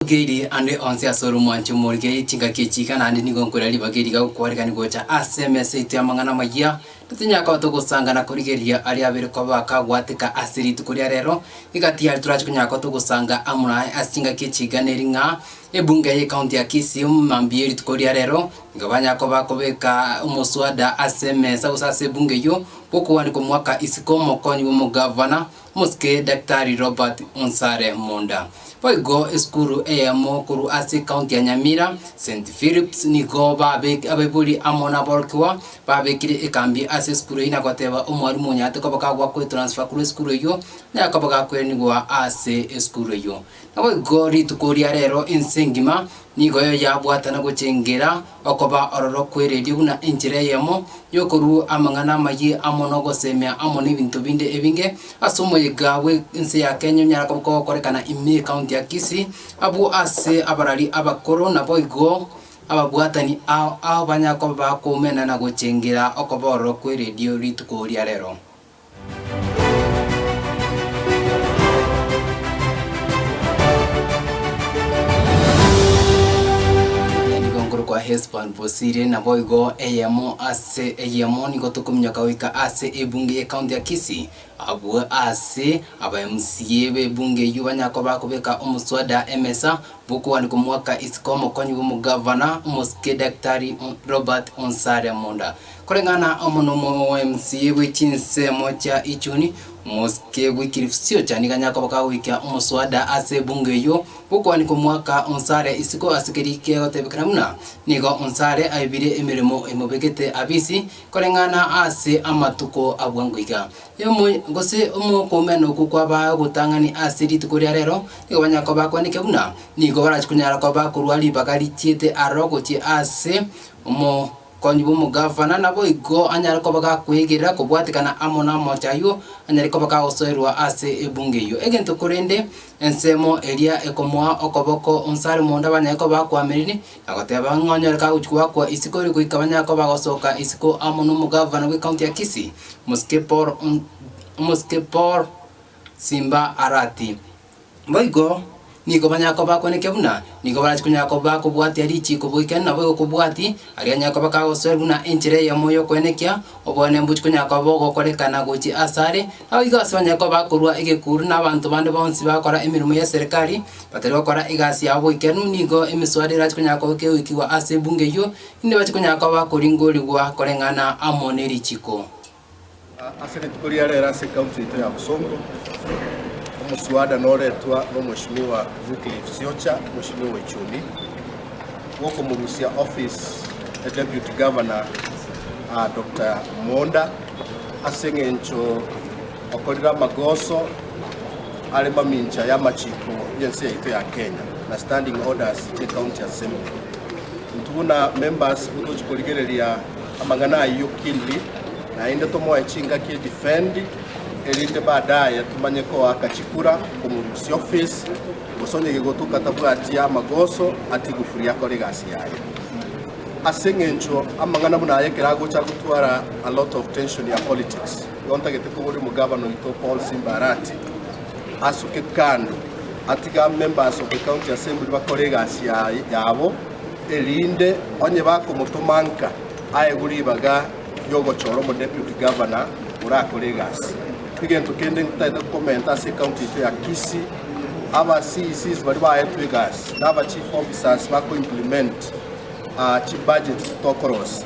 Nkoigeirie ande onsi ase oromwancho morigererie chingaki echi iga, naende nigo nkoira ribaga eri iga gokwarekania gocha ase emesa yaito y'amang'ana amayia. Totonyara koba togosanga na korigereria aria abere koba akagwateka ase rituko ria rero. Egati yaria torache konyara koba togosanga amo naye ase chingaki echi iga neri ng'a, ebunge y'ekaunti ya Kisii mambia erituko ria rero, nigo banyara koba bakobeka omoswada ase emesa gose ase ebunge eyio, gokogwanikwa omogaka isiko omokonyi bw'omogavana, Mosike Daktari Robert Onsare Munda. Boigo esukuru eyemo korwa ase ekaunti ya Nyamira, St. Philip's, nigo babek abaibori amo naborokigwa babekire ekambi ase esukuru eyio na goteba omwarimu onyarete koba kagwa kwetransfer korwa esukuru eyio, naye koba gakoiranigwa ase esukuru eyio. Naboigo rituko ria reero ense engima nigo yabwatana gochengera okoba ororo kw'eredio buna enchera eyemo y'okorua amang'ana amayie amo n'ogosemea amo n'ebinto binde ebinge ase omoyega bwe ense ya Kenya onyarako gokorekana ime ekaunti ya Kisii abwo ase abarari abakoro naboigo ababwatani ao ao banyakoba bakoumena na gochengera okoba ororo kw'eredio rituko ria reero. Nigo nkorokwa Hesbon bosire, naboigo eyemo ase eyemo nigo tokominyoka goika ase ebunge y'ecounty ya Kisii, abwo aase aba mca b'ebunge eyio banyakoba kobeka omoswada emesa bw'okogania komwaka isiko omokonyi bw'omogavana omosike Daktari Robert Onsare Munda. Koreng'ana na omonomo bw'emsie bwe chinsemo chia Ichuni, omosike Wycliffe Siochani ganyare koba kagoikia omoswada ase ebunge eyio gokoani komwaka onsi are isiko ase keria kegotebekana buna nigo onsi are aibire emeremo emobegete abisi koreng'ana ase amatuko a bwango iga. Omo gose omokoomia nokwo kwabaa ogotang'ani ase rituko ria rero, nigo banyare koba bakwanete buna nigo barachi konyara koba bakorwa ribaga richiete aroro gochia ase omo. Konywa bw'omogavana naboigo anyare koba gakwegerera kobwatekana amo n'amache ayio anyare koba gagosoerwa ase ebunge eyio. Egento korende ensemo eria ekomoa okoboko onsi are monda banyare koba bakwamereri na goteba ng'a onyore kagochi koakwa isiko ere goika banyare koba bagosoka isiko amo n'omogavana bw'ekaunti ya Kisii, Omosike Paul Omosike Paul Simba Arati. Boigo nigo banyare koba bakweneke buna nigo barachi konyara koba bakobwatia richiiko boikeranu nabo egokobwati, aria anyare koba kagosoera buna enchera eyemo y'okwenekia, oboene mbochi konyara koba bogokorekana gochia asare. Nabo igo ase banyare koba bakorua egekuuru na abanto bande bonsi bagokora emeremo ya serikari, batari gokora egasi yabo boikeranu, nigo emiswada erachi konyara koba kegoikigwa ase ebunge eyio, inde bache konyara koba bakoringorigwa koreng'ana amo nerichiiko. Ase rituko ria rero ase ekaunti yaito ya Bosongo, omoswada noretwa n'Omweshimiwa Wycliffe Siocha, Omweshimiwa Ichuni, bw'okomorusia office e Deputy Governor aa Doctor Monda ase eng'encho okorire amagoso are mamincha y'amachiko y'ense yaito ya Kenya na standing orders ye County Assembly. Intwe buna members nigo tochi korigereria Amang'ana ayio Kinley naende tomoe chingaki edifendi erinde baadaye tumanye koaka chikura komorusia ofisi gose onye gegotuka tabwati amagoso atie gufuri akore egasi yaye. Ase eng'encho amang'ana buna aya ekero agocha agotwara a lot of tension ya politics igo ntagete kobori omogavana oito Paul Simba Arati asuke kando atige a members of the county assembly bakore egasi yabo erinde onye bakomotoma nka aegwe ribaga ri'ogochora Omodepute Gavana orakore egasi. Egento kende ntaete kokomenta ase ecounty yaito ya Kisii, aba CECs baria baetwe egasi na aba chief officers bakoimplement chibudgets tokorosia.